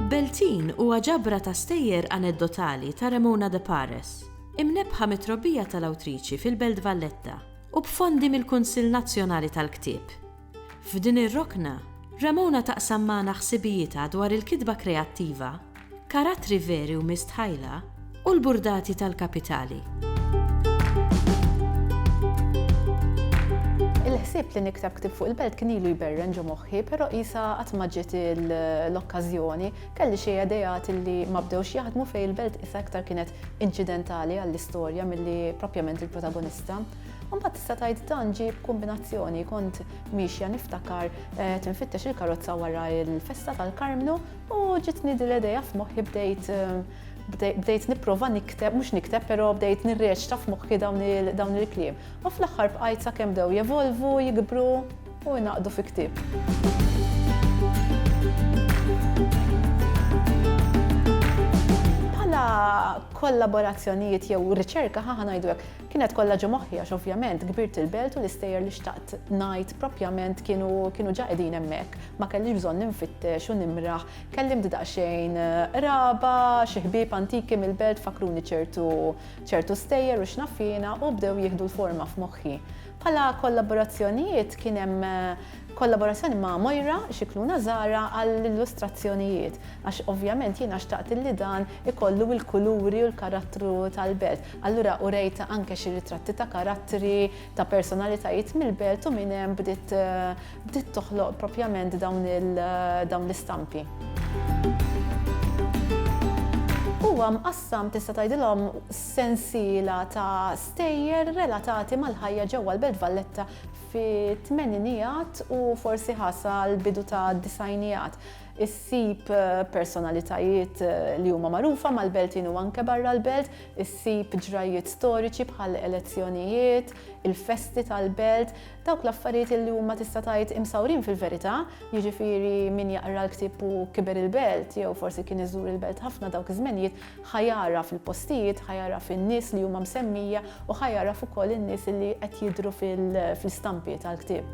Beltin huwa ġabra ta' stejjer aneddotali ta' Ramona de Pares, imnebbħa mit-trobbija tal-awtriċi fil-Belt Valletta u b'fondi mill-Kunsill Nazzjonali tal-Ktieb. F'din ir-rokna, Ramona taqsam magħna ħsibijietha dwar il-kitba kreattiva, karattri veri u mistħajla, u l-burdati tal-kapitali. Il-ħsieb li nikteb ktieb fuq il-belt kien ilu jberren ġo moħħi, però qisha qatt ma ġiet l-okkażjoni. Kelli xi ideat li ma bdewx jaħdmu fejn il-belt qisha iktar kienet inċidentali għall-istorja milli proprjament il-protagonista. Mbagħad tista' tgħid dan ġie b'kumbinazzjoni kont miexja niftakar eh, tinfittex il-karozza wara il-festa tal-Karmnu u ġitni dil idea f'moħħi bdejt eh, bdejt nipprova nikteb, mhux nikteb, però bdejt nirreċta f'moħħi dawn il-kliem. U fl-aħħar bqajt sakemm dew jevolvu, jikbru u jnaqdu fi ktieb. kollaborazzjonijiet jew riċerka ħa ngħidu hekk. Kienet kollha ġo moħħi għax ovvjament kbirt il-belt u l-istejjer li xtaqt ngħid propjament kienu kienu ġa qegħdin hemmhekk. Ma kellix bżonn infittex u nimraħ. Kellimt daqsxejn qraba, xi ħbieb antiki mill-belt fakkruni ċertu ċertu stejjer u x'naf jiena u bdew jieħdu l-forma f'moħħi. Bħala kollaborazzjonijiet kien hemm kollaborazzjoni ma' Moira Scicluna Zara għall-illustrazzjonijiet għax ovvjament jiena xtaqt li dan ikollu l-kuluri u l-karattru tal-belt. Allura urejtha anke xi ritratti ta' karattri, ta' personalitajiet mill-belt u minn hemm bdiet bdiet toħloq propjament dawn il dawn l-istampi. Huwa mqassam tista' tgħidilhom sensiela ta' stejjer relatati mal-ħajja ġewwa l-Belt Valletta fit-tmeninijat u forsi ħa sal-bidu tad-disgħinijat. Issib personalitajiet li huma magħrufa mal-Beltin u anke barra l-Belt, issib ġrajjiet storiċi bħal elezzjonijiet, il-festi tal-Belt, dawk l-affarijiet li huma tista' tgħid imsawrin fil-verità, jiġifieri min jaqra l-ktieb u kiber il-Belt jew forsi kien iżur il-Belt ħafna dawk iż-żmenijiet, Ħa jagħraf il-postijiet, ħa jagħraf in-nies li huma msemmija u ħa jagħraf ukoll in-nies li qed jidhru fl-istampi tal-ktieb.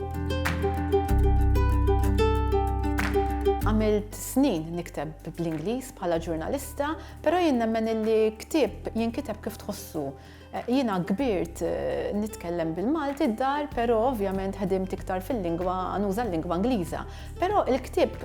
Għamilt snin nikteb bl-Ingliż bħala ġurnalista, però jien nemmen illi ktieb jinkiteb kif tħossu. Jiena kbirt nitkellem bil-Malti d-dar, però ovvjament ħedimt iktar fil-lingwa, nuża l-lingwa Ingliża. Però il-ktieb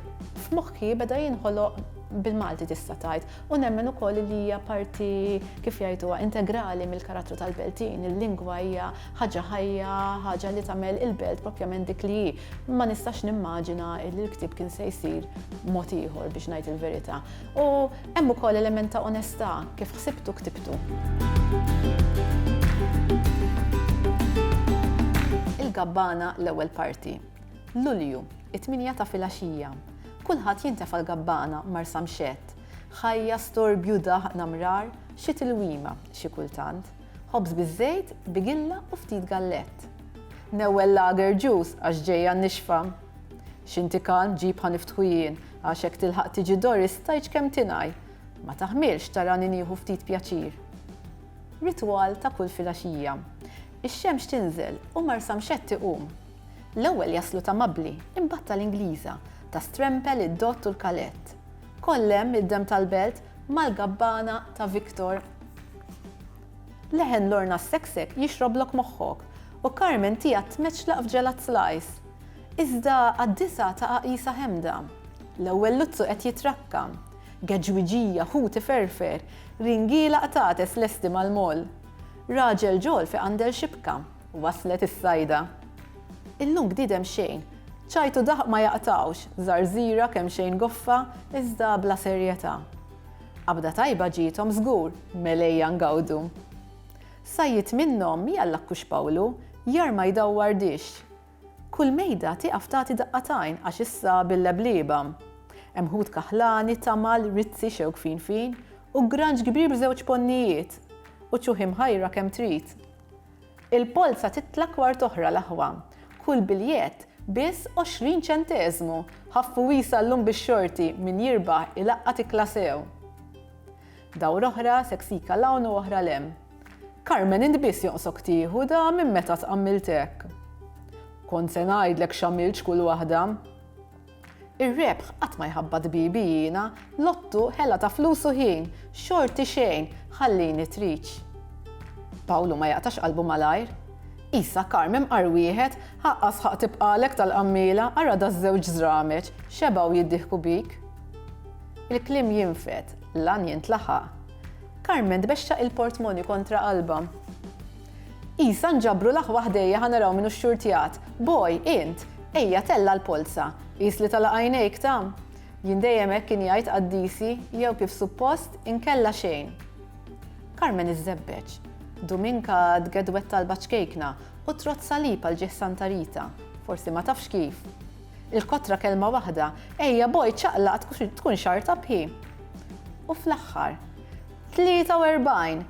f'moħħi beda jinħoloq bil-Malti tista' tgħid u nemmen ukoll li hija parti kif jgħiduha integrali mill-karattru tal-Beltin. Il-lingwa hija ħaġa ħajja, ħaġa li tagħmel il-Belt propjament dik li hi. Ma nistax nimmaġina li l-ktieb kien se jsir mod ieħor biex ngħid il-verità. U Hemm ukoll element ta' onestà, kif ħsibtu ktibtu. Il-gabbana l-ewwel parti. Lulju, it-tminja ta' filgħaxija. Kulħadd jintefa' l-gabbana, Marsa mxett. Ħajja, storbju, daħq, namrar, xi tilwima, xi kultant. Ħobż biż-żejt, bigilla u ftit gallett. Newwel lager ġus għax ġejja n-nixfa. X'inti kalm ġib ħa niftħu jien, għax hekk tilħaq tiġi Doris tgħidx kemm tingħi. Ma taħmilx tarani nieħu ftit pjaċir. Ritwal ta' kull filgħaxija. Ix-xemx tinżel u Marsamxett iqum. L-ewwel jaslu ta' Mabbli, imbagħad tal-Ingliża, ta' Strempel, id-Dott u l-Kalett. Kollhemm id-demm tal-belt mal-gabbana ta' Victor. Leħen Lorna sseksek jixroblok moħħok u Carmen tiegħek tmeċċlaq f'ġelat slice. Iżda għad-disgħa ta' għaqisa ħemda. L-ewwel luzzu qed jitrakka. Geġwiġija, ħut iferfer. Ringiela qtates lesti mal-moll. Raġel ġol fi qandel xibka. Waslet is-sajda. Illum bniedem xejn. Ċajt u daħq ma jaqtgħux, żarżira kemxejn goffa, iżda bla serjetà. Qabda tajba ġiethom żgur, mel ejja ngawdu. Sajjid minnhom, jalla kux Pawlu, jarma jdawwar dixx. Kull mejda tieqaf tagħti daqqa t'għajn għax issa bil-leblieba. Hemm ħut kaħlani, tamal, rizzi xewkfin fin, u granġ kbir b'żewġ ponnijiet. U ċuħi mħajra kemm trid. Il-polza titla' kwart oħra l-aħwa. Kull biljett biss għoxrin ċenteżmu! Ħaffu wiesgħa llum bix-xorti, min jirbaħ ilaqqat ikla sew. Dawra oħra, seksika 'l hawn u oħra 'l hemm. Carmen int biss jonqsok tieħu da minn meta tqammiltek. Kont se ngħidlek x'għamiltx kull waħda. Ir-rebħ qatt ma jħabbat bibi jiena, lottu, ħela ta' flus u ħin, xorti xejn, ħallini triċ. Pawlu ma jaqtax qalbu malajr. Qisha Carmen bqar wieħed, ħaqqa sħaq tibqagħlek tal-qammiela, ara daż-żewġ żrameġ, xebgħu jiddieħku bik. Il-kliem jinfed, l-għan jintlaħaq. Carmen tbexxaq il-portmoni kontra qalbha. Isa nġabru l-aħwa ħdejja ħa naraw min hu x-xurtjat. Boj, int! Ejja tella' l-polza. Qis li tala' għajnejk ta'. Jien dejjem hekk kien jgħid qaddisi, jew kif suppost, inkella xejn. Karmen iżżebbeġ. Duminka tgedwed talba ċkejkna u trodd salib għal ġieħ Santa Rita. Forsi ma tafx kif. Il-kotra kelma waħda, Ejja boj ċaqlaq tkun xarrtab hi. U fl-aħħar. Tlieta u erbgħin!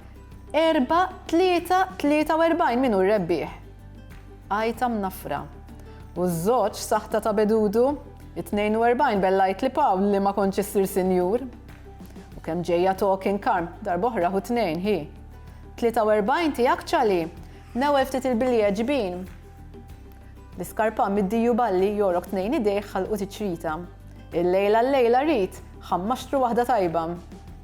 Erba', tlieta, tlieta u erbgħin min hu r-rebbieħ? Għajta mnaffra. U ż-żewġ saħta ta' bedudu? It-tnejn u erbgħin bellajt li Pawl li ma kontx issir sinjur. U kemm ġejja talking karm, darb'oħra hu tnejn, hi. Tlieta u erbgħin tiegħek ċali? Newwel ftit il-bilje ġbin. L-iskarpan mid-diju balli jogħrok tnejn idejh ħalqu tiċrita. Il-lejla l-lejla rrid, ħammaxtru waħda tajba.